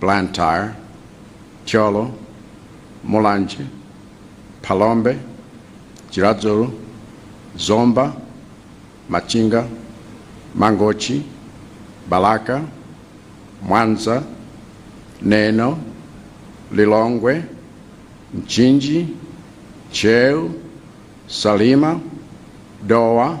Blantyre, Thyolo, Mulanje, Phalombe, Chiradzulu, Zomba, Machinga, Mangochi, Balaka, Mwanza, Neno, Lilongwe, Mchinji, Ntcheu, Salima, Dowa,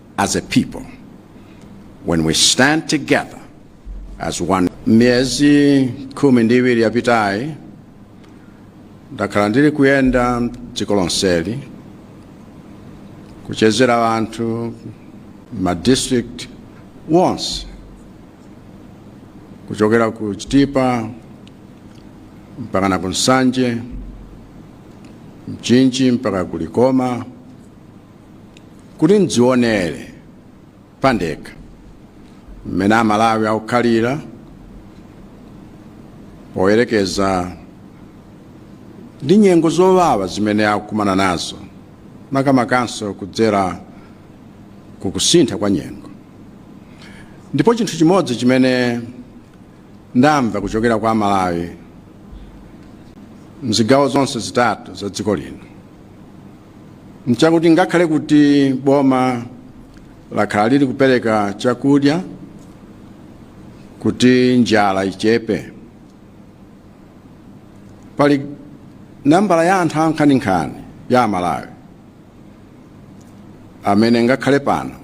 as a people when we stand together as one. Miyezi khumi ndi iwiri yapitayi ndakhala ndili kuyenda m'dziko lonseli kuchezera anthu m'ma district onse kuchokera ku Chitipa mpaka na ku Nsanje, Mchinji mpaka ku Likoma. Kuti ndidzionere pandekha mmene Amalawi akukhalira poyerekeza ndi nyengo zowawa zimene akukumana nazo, makamakanso kudzera ku kusintha kwa nyengo. Ndipo chinthu chimodzi chimene ndamva kuchokera kwa Amalawi m'zigawo zonse zitatu za dziko lino, nchakuti ngakhale kuti boma lakhala lili kupereka chakudya kuti njala ichepe pali nambala ya anthu ankhaninkhani ya amalawi amene ngakhale pano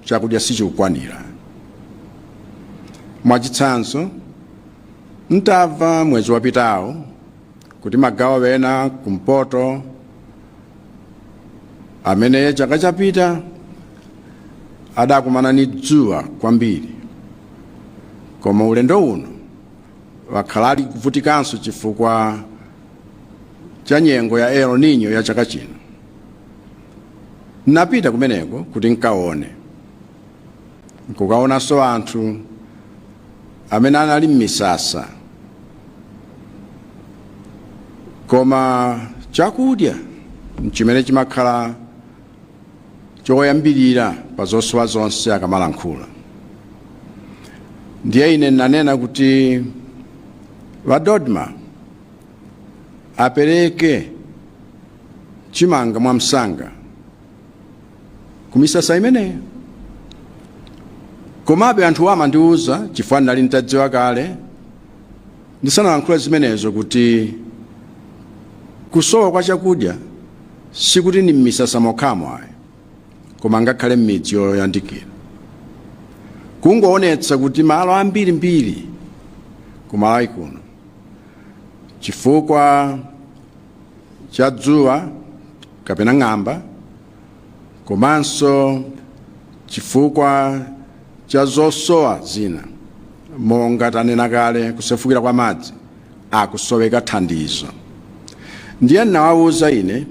chakudya sichikukwanira mwachitsanzo ntamva mwezi wapitawo kuti magawo ena kumpoto amene chaka chapitacho adakumana ni dzuwa kwambiri koma ulendo uno wakhala ali kuvutikanso chifukwa cha nyengo ya El Nino ya chaka chino n'napita kumeneko kuti nkaone nkukaonanso anthu amene anali m'misasa koma chakudya nchimene chimakhala choyambirira pa zosowa zonse akamalankhula ndiye ine ndinanena kuti a DoDMA apereke chimanga mwamsanga ku misasa imeneyo komabe anthuwa amandiwuza chifukwa ndinali nditadziwa kale ndisanalankhula zimenezo kuti kusowa kwa chakudya sikuti ni m'misasa mokhamo ayi koma ngakhale m'midzi yoyandikira kungoonetsa kuti malo ambirimbiri ku malawi kuno chifukwa cha dzuwa kapena ng'amba komanso chifukwa cha zosowa zina monga tanena kale kusefukira kwa madzi akusoweka thandizo ndiye ndinawawuza ine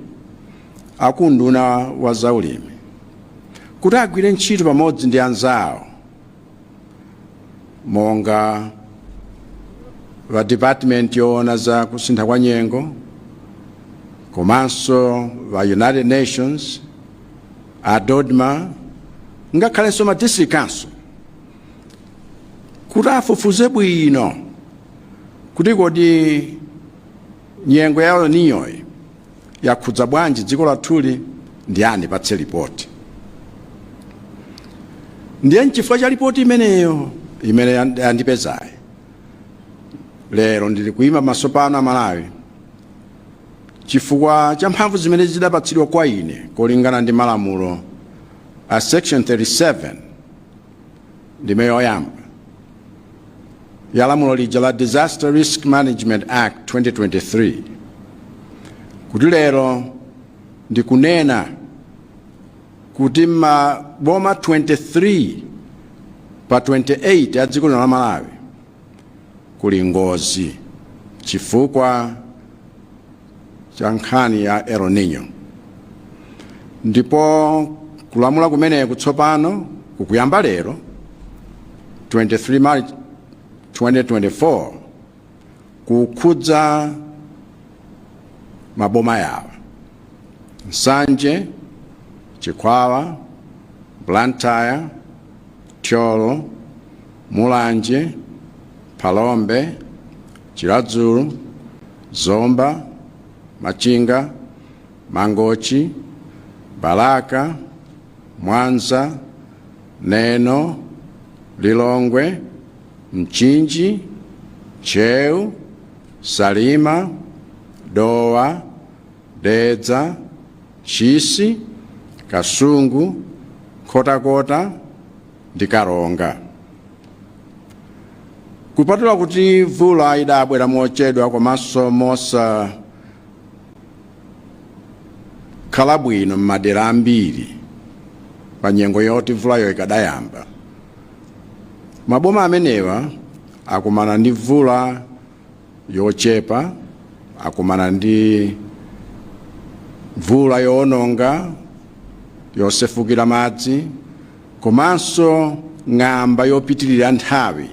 akunduna wa zaulimi kuti agwire ntchito pamodzi ndi anzawo monga a department yoona za kusintha kwa nyengo komanso a united nations a dodma ngakhalenso ma district council kuti afufuze bwino kuti kodi nyengo yowonongayi yakhudza bwanji dziko lathuli? Ndiye andipatse lipoti. Ndiye nchifukwa cha lipoti imeneyo imene yandipezayi, lero ndili kuima pamaso panu a Malawi chifukwa cha mphamvu zimene zidapatsidwa kwa ine kolingana ndi malamulo a section 37 ndime yoyamba ya lamulo lija la disaster risk management act 2023 kuti lero ndikunena kuti maboma 23 pa 28 a dziko lino la malawi kuli ngozi chifukwa cha nkhani ya El Nino ndipo kulamula kumeneku tsopano kukuyamba lero 23 March 2024 kukhudza maboma awa Nsanje, Chikwawa, Blantyre, Thyolo, Mulanje, Phalombe, Chiradzulu, Zomba, Machinga, Mangochi, Balaka, Mwanza, Neno, Lilongwe, Mchinji, Ntcheu, Salima, Dowa, Dedza, Ntchisi, Kasungu, Nkhotakota, ndi Karonga. Kupatula kuti mvula idabwera mochedwa komanso mosakhala bwino m'madera ambiri pa nyengo yoti mvulayo ikadayamba, maboma amenewa akumana ndi mvula yochepa, akumana ndi mvula yoononga, yosefukira madzi, Komanso ng'amba yopitirira nthawi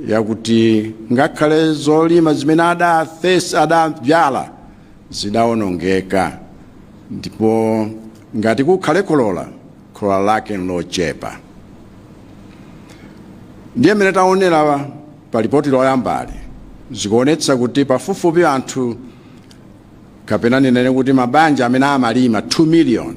yakuti ngakhale zolima zimene adaafesa adabzala zidaonongeka, ndipo ngati kukhale kholola, kholola lake nlochepa. Ndiye mmene taonera pa lipoti loyambali, zikuonetsa kuti pafupifupi anthu kapena ndinene kuti mabanja amene amalima 2 miliyoni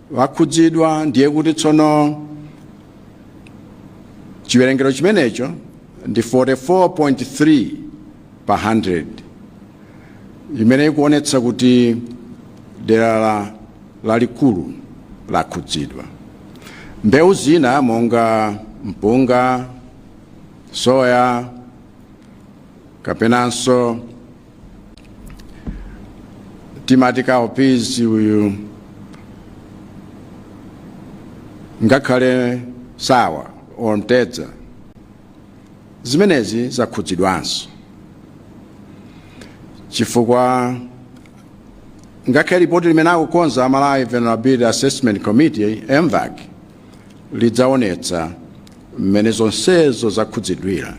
akhudzidwa ndiye kuti tsono chiwerengero chimenecho ndi 44.3 pa 100 imene ikuonetsa kuti dera la- lalikulu lakhudzidwa mbewu zina monga mpunga soya kapenanso timati cowpeas uyu ngakhale sawa or mtedza zimenezi zakhudzidwanso chifukwa ngakhale ripoti limene akukonza a malawi vulnerability assessment committee mvac lidzaonetsa mmene zonsezo zakhudzidwira.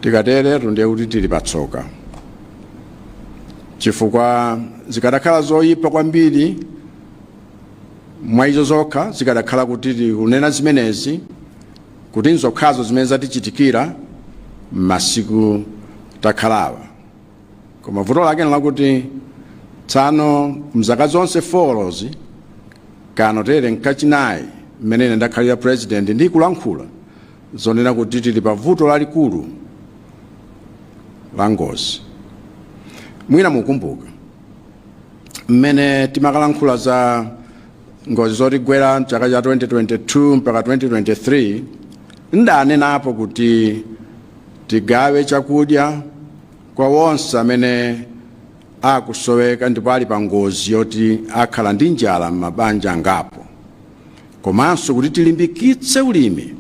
Tikateretu ndiye kuti tili patsoka, chifukwa zikadakhala zoyipa kwambiri mwa izo zokha, zikadakhala kuti tikunena zimenezi kuti nzokhazo zimene zatichitikira m'masiku takhalawa. Koma vuto lake nlakuti tsano mzaka zonse forozi kano tere nkachinayi mmene ine ndakhalira president ndi kulankhula zonena kuti tili pa vuto lalikulu la ngozi mwina mukumbuka mmene timakalankhula za ngozi zotigwera mchaka cha 2022 mpaka 2023 ndanenapo kuti tigawe chakudya kwa onse amene akusoweka ndipo ali pa ngozi yoti akhala ndi njala m'mabanja angapo komanso kuti tilimbikitse ulimi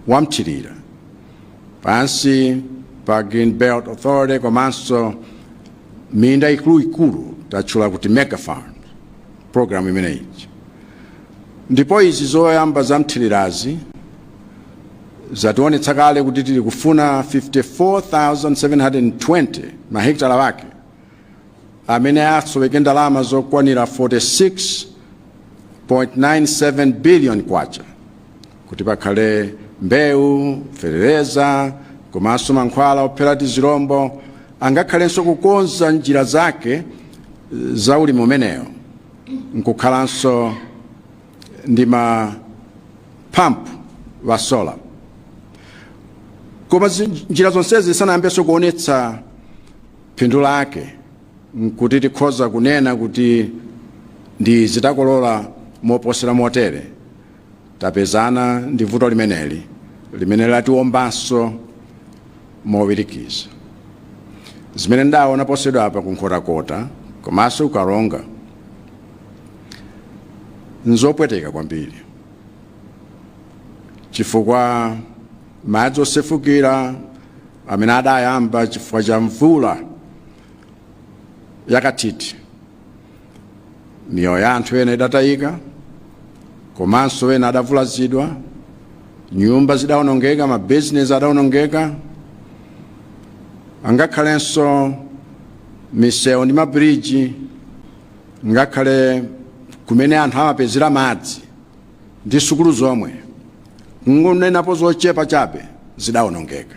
wa mthirira pansi pa green belt authority komanso minda ikuluikulu tatchula kuti mega farm program imeneyi Ndipo izi zoyamba za mthirirazi zationetsa kale kuti tili kufuna 54,720 mahekitala ake amene asoweka ndalama zokwanira 46.97 billion kwacha kuti pakhale mbewu, fetereza komanso mankhwala ophera tizirombo angakhalenso kukonza njira zake za ulimi umenewu. nkukhalanso ndi ma pump a solar koma zi- njira zonsezi zisanayambenso kuonetsa phindu lake kuti tikhoza kunena kuti ndithu takolola moposera motere Tapezana ndi vuto limeneli limene latiwombanso mowirikiza. Zimene taona posachedwapa ku Nkhotakota komanso ku Karonga n'zopweteka kwambiri chifukwa madzi osefukira amene adayamba chifukwa cha mvula yakathithi miyoyo ya anthu ena idatayika komanso ena adavulazidwa nyumba zidawonongeka mabizinesi adawonongeka angakhalenso misewu ndi mabiriji ngakhale kumene anthu amapezera madzi ndi sukulu zomwe kungonenapo zochepa chabe zidawonongeka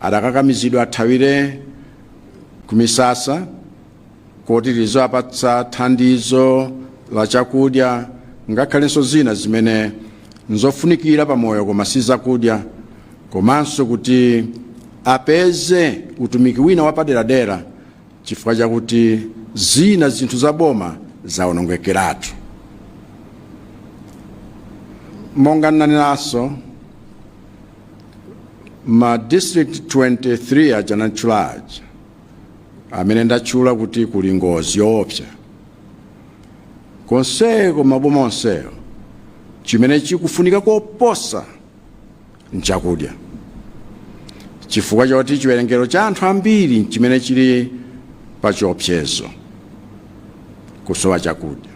Adakakamizidwa athawire kumisasa komwe tikuwapatsa thandizo la chakudya ngakhalenso zina zimene nzofunikira pa moyo koma si zakudya komanso kuti apeze utumiki wina wapaderadera chifukwa chakuti zina zinthu za boma zawonongekeratu monga ndanenanso ma district 23 aja ndatchula aja amene ndatchula kuti kuli ngozi yoopsa konseko maboma onsewo chimene chikufunika koposa nchakudya chifukwa choti chiwerengero cha anthu ambiri chimene chili pa chiopsezo kusowa chakudya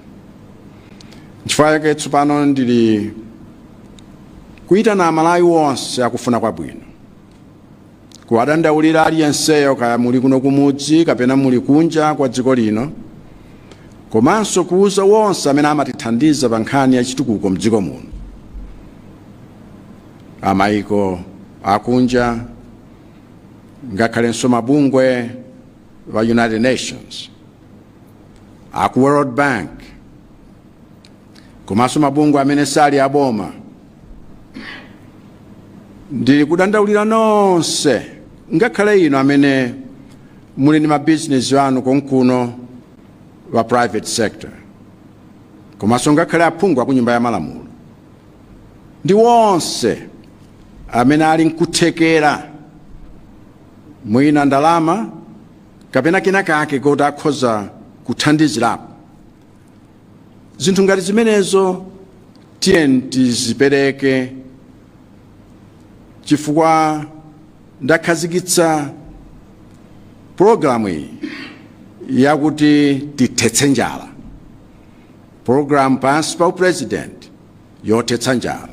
nchifukwa chake tsopano ndili Kuitana Amalawi onse akufuna kwabwino. Kuwadandaulira aliyenseyo kaya muli kuno kumudzi kapena muli kunja kwa dziko lino komanso kuuza wonse amene amatithandiza pa nkhani ya chitukuko mdziko muno, a maiko akunja ngakhalenso mabungwe a United Nations, a ku World Bank, komanso mabungwe amene sali aboma ndili kudandaulira nonse ngakhale inu amene muli ndi mabizinesi anu konkuno wa private sector komanso ngakhale aphungu aku nyumba ya malamulo ndi wonse amene ali nkuthekera mwina ndalama kapena kena kalikonse koti akhoza kuthandizirapo zinthu ngati zimenezo tiyeni tizipereke chifukwa ndakhazikitsa pologalamu iyi yakuti tithetse njala pologalamu pansi pa apurezidenti yothetsa njala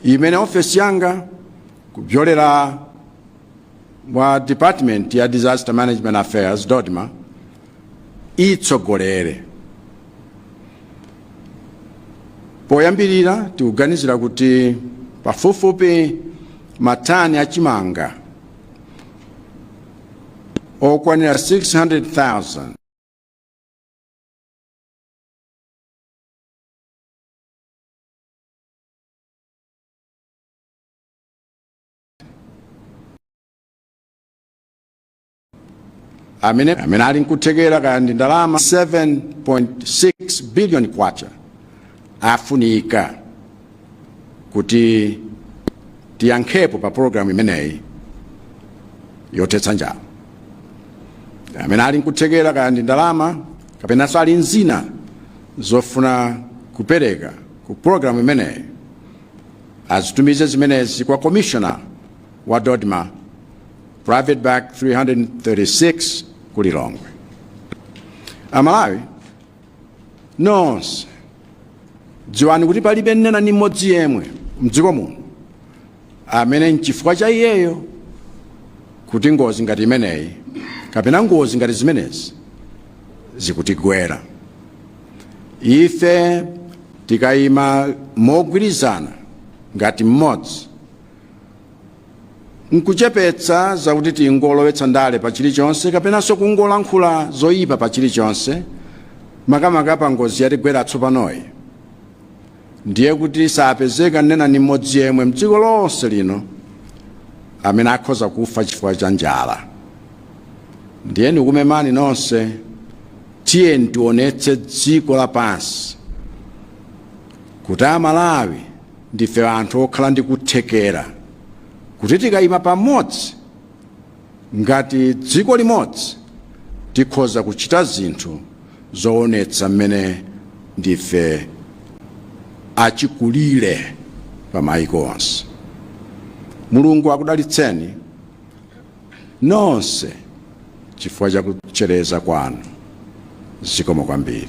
imene ofesi yanga kupyolera mwa Department ya Disaster Management Affairs, DoDMA, itsogolere. Poyambirira tikuganizira kuti pafupifupi matani a chimanga okwanira 600,000 amene ali nkuthekera kaya ndi ndalama 7.6 billion kwacha afunika kuti tiyankhepo pa programu imeneyi yothetsa njala amene ali nkuthekera kaya ndi ndalama kapenanso ali nzina zofuna kupereka ku programu imeneyi azitumize zimenezi kwa Commissioner wa Dodma Private Bag 336 ku Lilongwe. Amalawi nonse dziwani kuti palibe nnena ni mmodzi yemwe mdziko muno amene nchifukwa cha iyeyo kuti ngozi ngati imeneyi kapena ngozi ngati zimenezi zikutigwera. ife tikayima mogwirizana ngati mmodzi nkuchepetsa zakuti tingololowetsa ndale pa chilichonse kapenanso kungolankhula zoyipa pa chilichonse makamaka pa ngozi yatigwera tsopanoyi Ndiye kuti sapezeka nnena ni mmodzi yemwe m'dziko lonse lino amene akhoza kufa chifukwa cha njala. Ndiye ndikumemani nonse, tiyeni tionetse dziko lapansi kuti Amalawi ndife anthu okhala ndi kuthekera, kuti tikayima pamodzi ngati dziko limodzi tikhoza kuchita zinthu zoonetsa mmene ndife achikulire pa maiko onse. Mulungu akudalitseni nonse chifukwa cha kutchereza kwanu. Zikomo kwambiri.